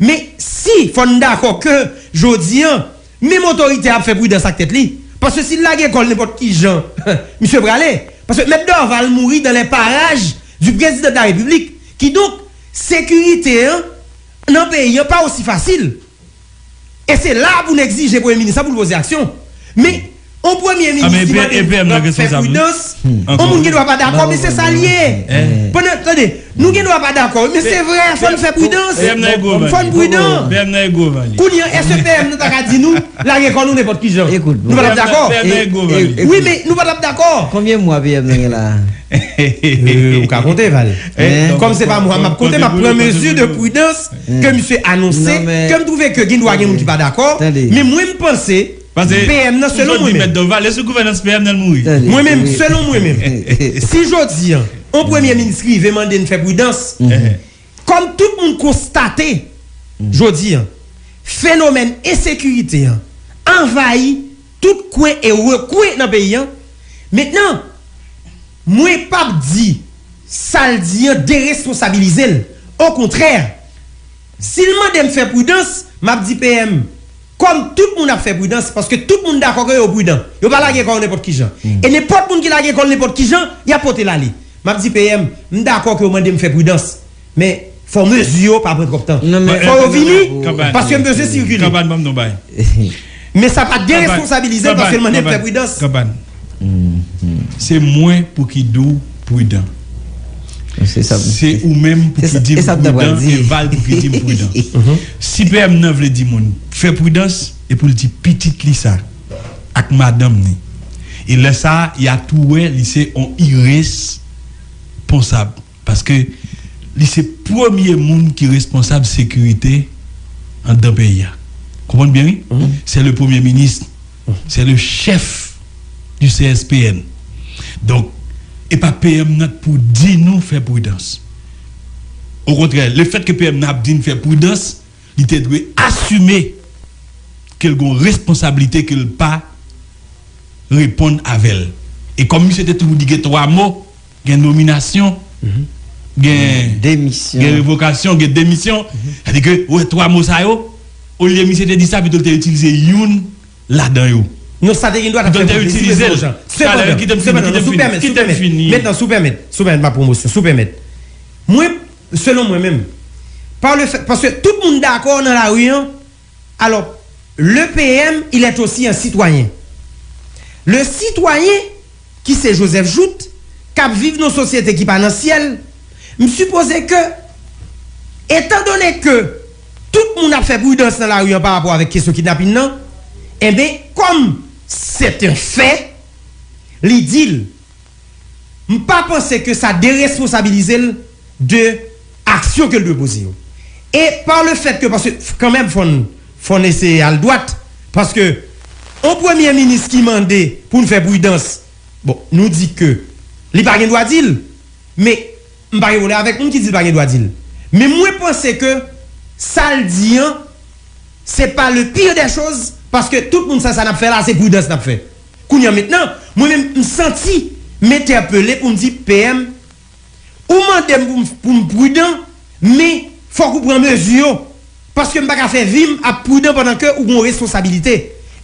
Men si fò n dakò ke jodi an, Menm otorite a ap fè pridans ak tèt li, paske si l lage kò l nenpòt ki jan, misye prale, paske Mèt Dorval mouri dans les parages du Président de la République, kidonk sekirite an nan peyi an pa osi fasil, e se la a pou n egzije Premye Minis la pou l poze aksyon, men. On premye minis ki mande nap fè pridans, on moun gen dwa pa dakò men se sa l ye. Pandan, tande, nou gen dwa pa dakò wi men se vrè fò n fè pridans, fò n pridan. Kounye an èske PM nan ta ka di nou lage kò nou nenpòt kijan? Nou pa t ap dakò? Wi men nou pa t ap dakò. Konbyen mwa PM nan gen la a? Ou ka konte Val. Kòm se pa mwa m ap konte m ap pran mezi de pridans ke misye anonse ke m twouve ke gen dwa gen moun ki pa dakò men mwen m panse Pase PM nan selon mwen menm. Vale sou gouvènans PM nan l mouri. Mwen menm, selon mwen menm. Si jodi an, yon premye minis rive mande n fè pridans, kòm tout moun konstate jodi an, fenomèn ensekirite an anvayi tout kwen e rekwen nan peyi an, mentnan mwen p ap di sa l di an deresponsabilize l. Okontrè, si l mande m fè pridans, m ap di PM, Kòm tout moun ap fè pridans, paske tout moun dakò ke yo pridan, yo pa lage kò yo nenpòt kijan. E nenpòt moun ki lage kò l nenpòt kijan, y ap pote l ale. M ap di PM, m dakò ke w mande m fè pridans, men fò mezi yo pa pran twòp tan. Fò yo vini, paske m bezwen sikile. Men sa pa deresponsabilize l paske l mande m fè pridans. Se mwen pou ki di w pridan. Se ou menm pou ki di m pridan e Val pou ki di m pridan. Si PM nan vle di moun fè pridans e pou l di pitit li sa ak madanm ni. E lè sa a ya tou wè li se on iresponsab. Paske li se premye moun ki responsab sekirite andan peyi a. Konprann byen wi. Se le premye minis. Se le chèf di CSPN. Donk e pa PM nan k pou di nou fè pridans. O kontrè, le fèt ke PM nan ap di n fè pridans, li te dwe asime ke l gon responsablite ke l pa reponn avè l. E kòm misye te toujou di gen 3 mo. Gen nominasyon, gen revokasyon, gen demisyon. Sa di ke ou wè twa mo sa yo, olye misye te di sa pito l te itilize youn ladan yo. Non sa te gendwa ta fè moun plezi mesye Bonjan. Sepandan, sepandan, si w pèmèt, si w pèmèt, metnan si w pèmèt, si w pèmèt ma pwomosyon, si w pèmèt. Mwen, selon mwen menm, pa le fèt, paske tout moun dakò nan lari an, Alò, le PM, il est aussi un citoyen. Le citoyen, ki se Joseph Jouthe, k ap viv nan sosyete ki pa nan syèl, m sipoze ke, etan done ke tout moun ap fè pridans nan lari an pa rapò avèk kesyon kidnapin nan, enben, kòm. C'est un fait, li di l, m pa panse ke sa deresponsabilize l de aksyon ke l dwe poze yo. E pa le fèt ke paske kan menm fò n fò n eseye al dwat paske on premye minis ki mande pou n fè pridans bon nou di ke li pa gen dwa di l men m pa gen pwoblèm avèk moun ki di l pa gen dwa di l men mwen panse ke sa l di an se pa le pire des choses paske tout moun sa sa n ap fè la se pridans n ap fè kounye an mentnan mwen menm m santi m entèpele pou m di PM Ou mande m pou m prudan, men fòk ou pran mezi yo, paske m pa ka fè vi m ap prudan pandan ke ou gen yon responsabilite.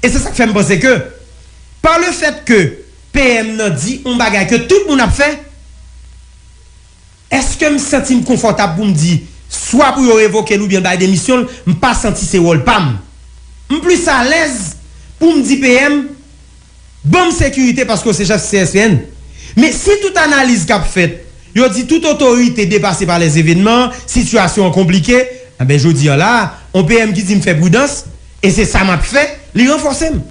E se sa k fè m panse ke pa le fèt ke PM nan di yon bagay ke tout moun ap fè, èske m santi m konfòtab pou m di swa pou yo revoke l oubyen l bay demisyon l, m pa santi se wòl pa m. M plis alèz pou m di PM. Banm sekirite paske w se chèf CSPN. Men si tout analiz k ap fèt yo di tout otorite depase pa lèzevènman, sitiyasyon an konplike, enben jodi an la a, on PM ki di m fè pridans, e se sa m ap fè, li ranfòse m.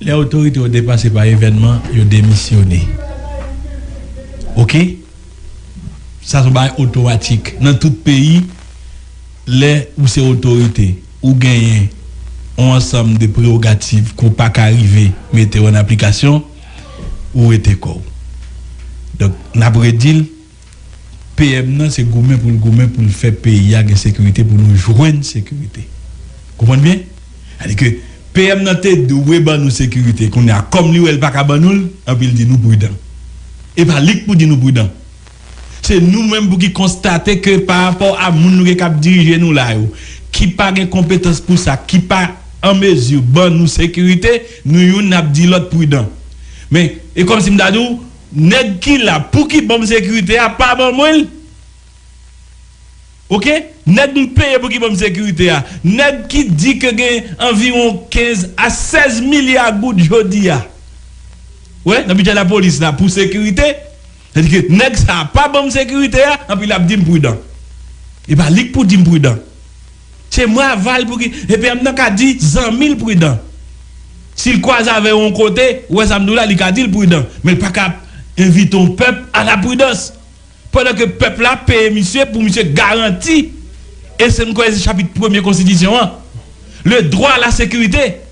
Lè otorite yo depase pa evènman, yo demisyone. Ok? Sa se yon bagay otomatik. Nan tout peyi, lè ou se otorite. Ou genyen yon ansanm de prewogativ ke w pa ka rive mete an aplikasyon, ou wete kò w. Donk, n ap redi l, PM nan se goumen pou l goumen pou l fè peyi a gen sekirite, pou nou jwenn sekirite. Ou konprann byen? Sa di ke PM nan te dwe ban nou sekirite, kounye a kòm li wè li pa ka ban nou l, anpi l di nou pridan. E pa li k pou di nou pridan. Se nou menm pou ki konstate ke pa rapò a moun nou gen k ap dirije nou la yo, ki pa gen konpetans pou sa, ki pa an mezi ban nou sekirite, nou youn n ap di lòt pridan. Men, e kòm si m ta di w, nèg ki la pou ki ban m sekirite a pa ban mwen l. Ok? Nèg m peye pou ki ban m sekirite a, nèg ki di ke gen anviwon 15 a 16 milya goud jodi a, wè, nan bidjè lapolis la pou sekirite, Sa vle di ke nèg sa a pa banm sekirite a, anpi lap dim prudan. E pa li k pou dim prudan. Se mwen aval pou ki, e PM nan ka di zanmi l prudan. Si l kwaze avè yon kote, ou wè sa m di w la, li ka di l prudan. Men l pa ka ap envite yon pèp a la prudans. Pandan ke pèp la ap peye misye pou misye garanti, e se m kwè se chapit premye konstitisyon an, le droit à la sécurité.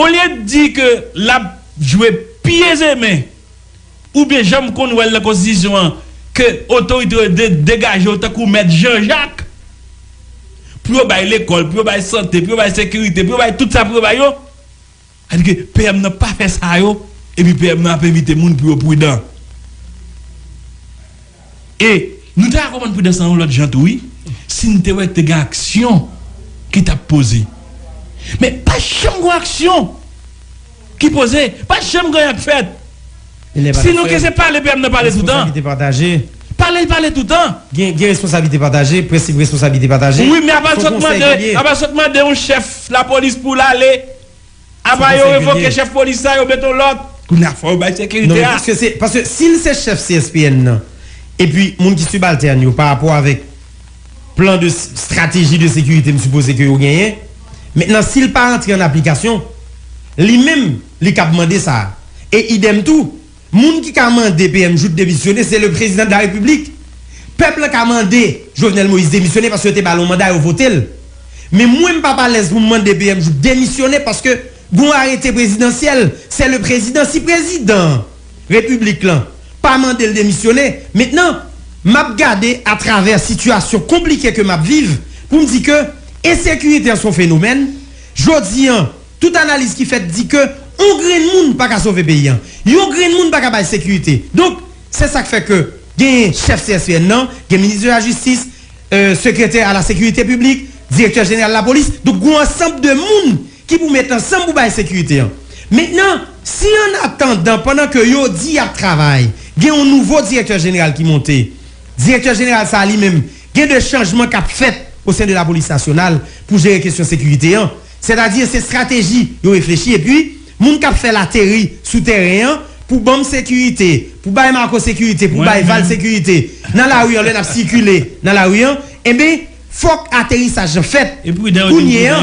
Olye t di ke lap jwe pi ezemen ou byen janm konn wèl nan konstitisyon an ke otorite yo dwe degaje yo tankou mèt janjak pou yo bay lekòl, pou yo bay sante, pou yo bay sekirite, pou yo bay tout sa pou yo bay yo. Sa di ke PM nan pa fè sa yo epi PM nan ap envite moun pou yo prudan. E, nou ta ka konprann pridans lan yon lòt jan tou wi, si n te wè te gen aksyon ki t ap poze. Men, pa janm gen yon aksyon ki poze, pa janm gen anyen k fèt. Si nou ke se pale PM nan pale toutan, pale l pale toutan. Gen responsablite pataje, prensip responsablite pataje. Wi, men apa l sot mande, apa l sot mande yon chèf lapolis pou l ale. Apa yo revoke chef polis la yo met on lot kounye a fò yo bay sekirite a. Paske si l se chef CSPN nan epi moun ki sibaltèn yo pa rapò avèk plan de strateji de sekirite m sipoze ke yo genyen mentnan si l pa antre an aplikasyon li menm li kab mande sa e idèm tou Moun ki ka mande PM Jouthe demisyone se le prezidan de la repiblik. Pèp lan ka mande Jovenel Moïse demisyone paske yo te ba l yon manda yo vote l. Men mwen m pa p alèz pou m mande PM Jouthe demisyone paske gen yon arete prezidansyèl se le prezidan si prezidan repiblik lan pa mande l demisyone mentnan m ap gade a travè sitiyasyon konplike ke m ap viv pou m di ke ensekirite an se yon fenomèn jodi an Tout analiz ki fèt di ke on grenn moun pa ka sove peyi an. Yon grenn moun pa ka bay sekirite. Donk, se sa k fè ke genyen chèf CSPN nan, gen minis de la jistis, sekretè a la sekirite piblik, direktè jeneral lapolis. Donk, gon ansanb de moun ki pou met ansanm pou bay sekirite an. Mentnan, si an atandan pandan ke yo di y ap travay, gen on nouvo direktè jeneral ki monte, direktè jeneral sa a li menm gen de chanjman k ap fèt o sen de lapolis nasyonal pou jere kesyon sekirite an. Sètadi se strateji yo reflechi epi moun k ap fè l ateri sou tèren an pou ban m sekirite, pou bay Marco sekirite, pou bay Val sekirite nan lari an lè n ap sikile nan lari an. Enben, fòk aterisaj lan fèt kounye a.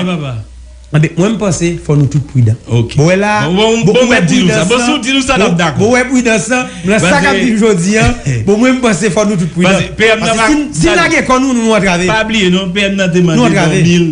Enben, mwen m panse fò nou tout pridan. Bon wè la a, bon ou wè pridans lan, bon ou wè pridans lan nan sa k ap vini jodi an, bon mwen m panse fò nou tout pridan. Paske si n lage kò nou, nou antrave. Pa bliye non, PM nan te mande bò mil.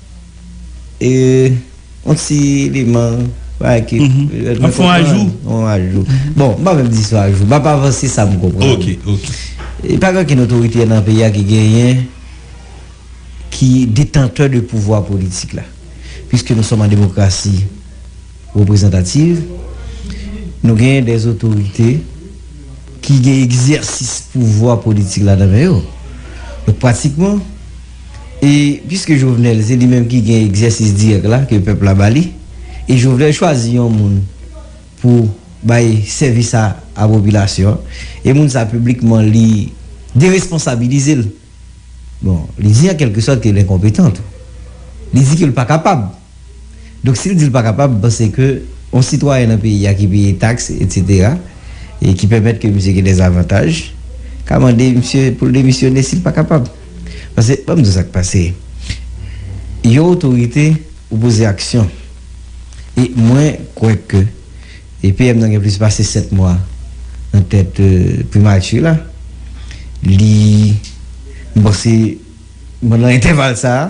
E yon ti liman Bagay ki An fon ajou An ajou Bon m pa menm di son ajou M ap avanse sa m konprann Ok ok E pa gen okenn otorite nan peyi a ki genyen Ki detantè de pouvwa politik la Piske nou sòm an demokrasi Reprezantativ Nou genyen de otorite Ki gen egzèsis pouvwa politik la nan men yo Donk pratikman E piske Jovenel se li menm ki gen egzèsis dirèk la ke pèp la ba li, e Jovenel chwazi yon moun pou bay sèvis sa a popilasyon an, e moun sa a piblikman li deresponsabilize l, bon, li di an kèlke sòt ke l enkonpetan tou. Li di ke l pa kapab. Donk si l di l pa kapab, m panse ke yon sitwayen nan peyi a ki peye taks etsetera e ki pèmèt ke misye gen dè zavantaj ka mande misye pou l demisyone si l pa kapab. Pase banm di w sa k pase. Yon otorite ou poze aksyon. E mwen kwè ke e PM nan gen plis pase 7 mwa nan tèt primati la. Li m panse pandan entèval sa a.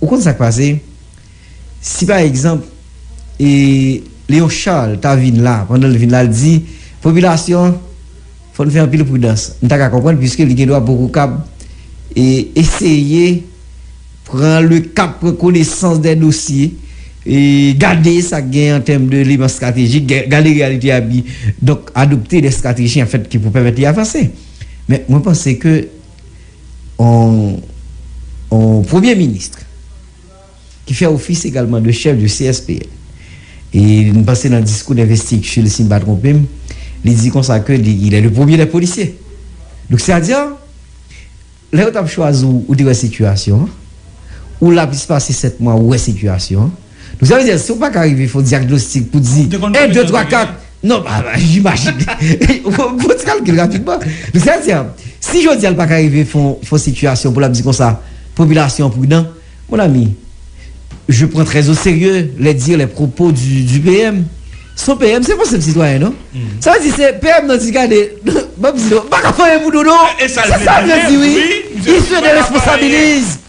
Ou konn sa k pase, si pa egzanp e Léon Charles ta vin la, pandan l vin la l di, popilasyon an fò n fè anpil pridans, m ta ka konprann piske li gen dwa poko kab e eseye pran le kap, pran konesans dè dosye e gade sa k gen an tèm de eleman stratejik, gade reyalite a epi donk adopte dè strateji an fèt ki pou pèmèt li avanse. Men mwen panse ke. On premye ministre ki fè ofis egalman de chèf de CSPN. E m panse nan diskou denvestikti l si m pa twonpe m, li di konsa ke li il est le premier des policiers. Donk sè a di lè yo t ap chwazi w ou te wè sitiyasyon an, ou la plis pase 7 mwa ou wè sitiyasyon an. Donk sa vle di si w pa ka rive fè yon dyagnostik pou di 1, 2, 3, 4, non pa imajine, fè ti kalkil rapidman. Donk sa vle di si jodi a l pa ka rive fè yon sitiyasyon pou l ap di konsa popilasyon an pridan, mon ami, je prends très au sérieux les dires, les propos du PM. Son PM se pa yon senp sitwayen non. Sa vle di se PM nan di gade m ap di nou m pa ka fè anyen pou nou non. Se sa l vle di wi. Il se déresponsabilise.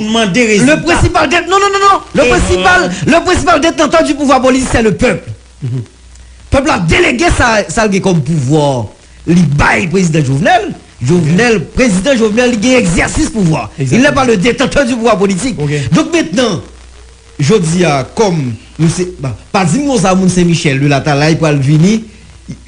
mande rezilta. Le prensipal dent non non non non le prensipal le prensipal detantan di pouvwa polis sè le pèp pèp la delege sa sa l gen kòm pouvwa li bay prezidan jovnèl jovnèl prezidan jovnèl li gen egzèsis pouvwa il nè pa le detantan di pouvwa politik donk mentnan jodi a kòm nou se pa di m konsa moun sen michèl de latalay pral vini